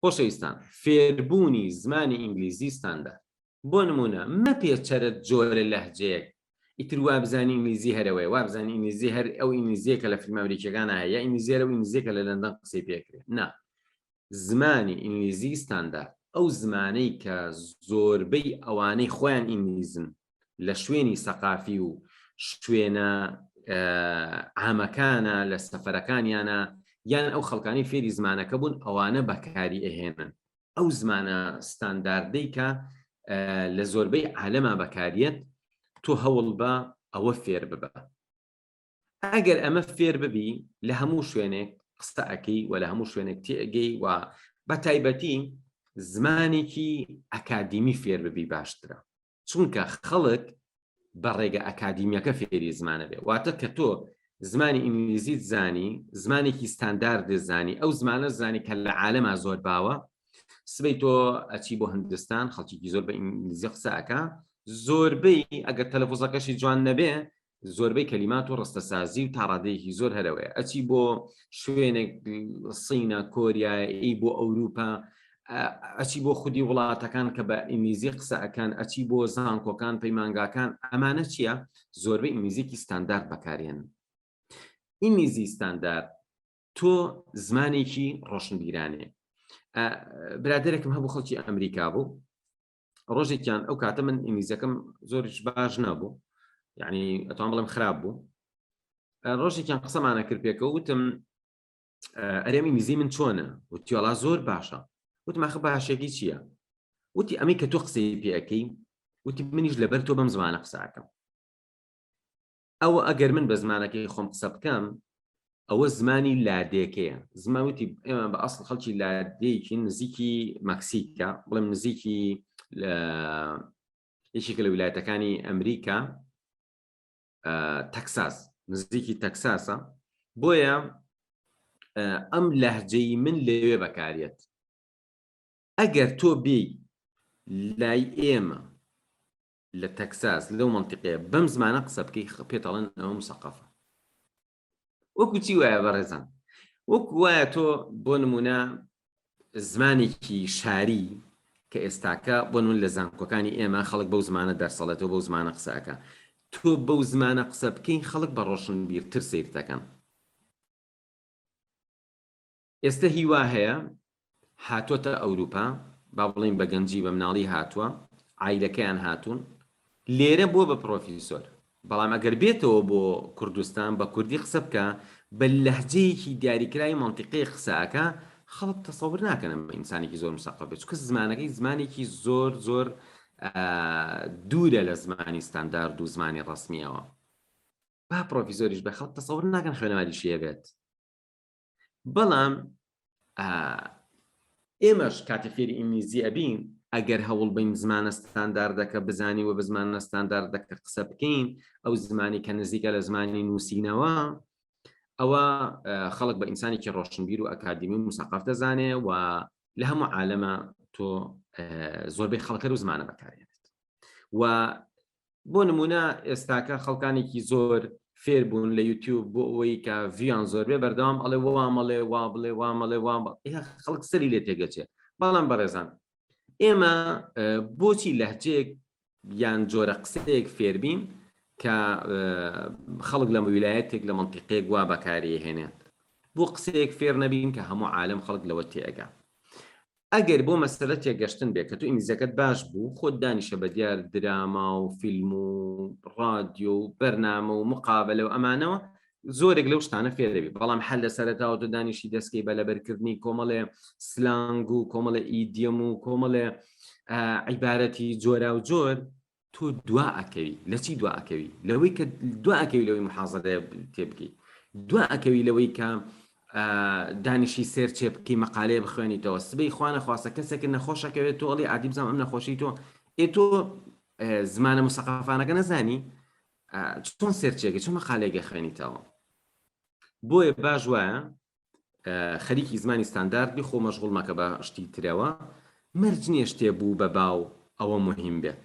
خۆشەویستان فێربوونی زمانی ئینگلیزی ستاندارد بۆ نمونە مەپێ چەرت جۆرە لەهجەیەک ئیتر وابزانانی ئینگلیزی هەرەوەی وابزانانی ئینگلیزی هەر ئەو ئینگلیزیە کە لە فیلم ئەمریکەکان هەیە ئینگلیزیێرە و ئینگلیزیە کە لە لەندەن قسەی پێکرێت نا زمانی ئینگلیزی ستاندارد ئەو زمانەی کە زۆربەی ئەوانەی خۆیان ئینگلیزن لە شوێنی سەقافی و شوێنە عامەکانە لە سەفەرەکانیانە یان ئەو خەڵکانی فێری زمانەکە بوون ئەوانە بەکاری ئەهێنن ئەو زمانە ستانداردەی کە لە زۆربەی عالەما بەکاریت تۆ هەوڵ بە ئەوە فێر ببە ئەگەر ئەمە فێر ببی لە هەموو شوێنێک قسە ئەەکەی و لە هەموو شوێنێک تێگەی و بە تایبەتی زمانێکی ئەکادیمی فێر ببی باشترە چونکە خەڵک بە ڕێگە ئەکادیمیەکە فێری زمانە بێ واتە کە تۆ زمانی ئینگلیزیت زانی زمانێکی ستاندارد زانی ئەو زمانە زانی کە لە عالەما زۆر باوە سبەی تۆ ئەچی بۆ هندستان خەڵکیی زۆر بە ئینگلیزی قسەکە زۆربەی ئەگەر تەلەفۆزەکەشی جوان نەبێ زۆربەی کەلیمات و ڕستەسازی و تاڕادەیەکی زۆر هەرەوەیە ئەچی بۆ شوێنێک سینە کۆریایی بۆ ئەوروپا ئەچی بۆ خودی وڵاتەکان کە بە ئینگلیزی قسەکان ئەچی بۆ زانکۆکان پەیمانگاکان ئەمانە چییە زۆربەی ئینگلیزیکی ستاندارد بەکارێن ئینگلیزی ستاندارد تۆ زمانێکی ڕۆشنبیرانێ برادێکم هەبوو خەڵکی ئەمریکا بوو ڕۆژێکیان ئەو کاتە من ئینگلیزەکەم زۆرش باش نەبوو یعنی ئەتوان بڵم خراپ بوو ڕۆژێکیان قسەمانە کرد پێکەوە وتم ئەرێمی میزی من چۆنە وتیۆڵا زۆر باشە وتماخە باشێکی چییە وتی ئەمەی کە تۆ قسەی پێەکەی وتی منیش لەبەر تۆ بەم زمانە قساکەم ئەوە ئەگەر من بە زمانەکەی خۆم قسە بکەم ئەوە زمانی لادێکەیە زماوتی ئێمە بە ئەسڵ خەڵکی لادێکی نزیکی مەکسیکە بڵێم نزیکی لە یەکێکە لە ویلایەتەکانی ئەمریکا تەکساس نزیکی تەکساسە بۆیە ئەم لەهجەی من لەوێ بەکارێت ئەگەر تۆ بێی لای ئێمە لە تەکساس لەو مەنتیقەیە بەم زمانە قسە بکەی پێت ئەڵێن ئەوە مسەقەفە وەکو چی وایە بەڕێزان وەکو وایە تۆ بۆ نمونە زمانێکی شاری کە ئێستاکە بۆ نمون لە زانکۆکانی ئێمە خەڵک بەو زمانە دەرسەڵێتەوە بەو زمانە قسەکە تۆ بەو زمانە قسە بکەین خەڵک بە ڕۆشن بیرتر سیرتەکەن ئێستە هی وا هەیە هاتووەتە ئەوروپا، با بڵێین بە گەنجی بە مناڵی هاتووە، عایلەکەیان هاتوون، لێرە بووە بە پڕۆفیسۆر، بەڵام ئەگەر بێتەوە بۆ کوردستان بە کوردی قسە بکا، بە لەهجەیەکی دیاریکراوی مەنتیقەیەک قسە ئەکا، خەڵک تەسەور ناکەن ئەمە ئینسانێکی زۆر مسەقەف بێت، چونکە زمانەکەی زمانێکی زۆر زۆر دوورە لە زمانی ستاندارد و زمانی ڕەسمییەوە. با پڕۆفیسۆریش بێت، خەڵک تەسەور ناکەن خوێنەواریشی هەبێت. بەڵام ئێمەش کاتێ فێری ئینگلیزی ئەبین ئەگەر هەوڵ بین زمانە ستانداردەکە بزانی و بە زمانە ستانداردەکە قسە بکەین ئەو زمانی کە نزیکە لە زمانی نووسینەوە ئەوە خەڵک بە ئینسانێکی ڕۆشنبیر و ئەکادمی و مساقف دەزانێ و لە هەموو عالەمە تۆ زۆربەی خەڵکە و زمانە بەکارێنێت و بۆ نمونە ئێستاکە خەڵکانێکی زۆر فێر بوون لە یوتیوب بۆ ئەوەی کە ڤیان زۆر بێ بەردەوام ئەڵێ وامەڵێ وا بڵێ وامەڵێ وام خەڵک سەری لێ تێگەچێ بەڵام بەڕێزان ئێمە بۆچی لەهجەیەک یان جۆرە قسەیەک فێربین کە خەڵک لە ویلایەتێک لە منتیقێک وا بەکاری هێنێن بۆ قسەیەک فێر نەبین کە هەموو عالم خەڵک لەوە تێگە ئەگەر بۆ مەسەلە تێگەشتن بێ کە تۆ ئینگلیزیەکەت باش بوو خۆت دانیشە بە دیار دراما و فیلم و ڕادیۆ و بەرنامە و مقابلە و ئەمانەوە زۆرێک لەو شتانە فێرەبی بەڵام حل لە سەرەتاوە تۆ دانیشی دەستکەی بە لەبەرکردنی کۆمەڵێ سلانگ و کۆمەڵە ئیدیەم و کۆمەڵێ عیبارەتی جۆرا و جۆر تۆ دوا ئەکەوی لەچی دوا ئەکەوی لەوەی کە دوا ئەکەوی لەوەی محازەدە تێبگەی دوا ئەکەوی لەوەی کە دانیشی سێر چێ بکی مەقالەیە بخوێنیتەوە سبەی خوانە خواستە کەسێک نەخۆشەکەوێت تۆ ئەڵی عادی بزانام ئەم نەخۆشی تۆ ئێ تۆ زمانە مسەقافانەکە نەزانی چۆن سێرچێکی چۆن مەقالێگە خوێنیتەوە بۆیە باش وایە خەریکی زمانی ستاندارد بی خۆ مەشغوڵ مەکە بە شتی ترەوە مەرج نیە شتێ بوو بە باو ئەوە موهیم بێت.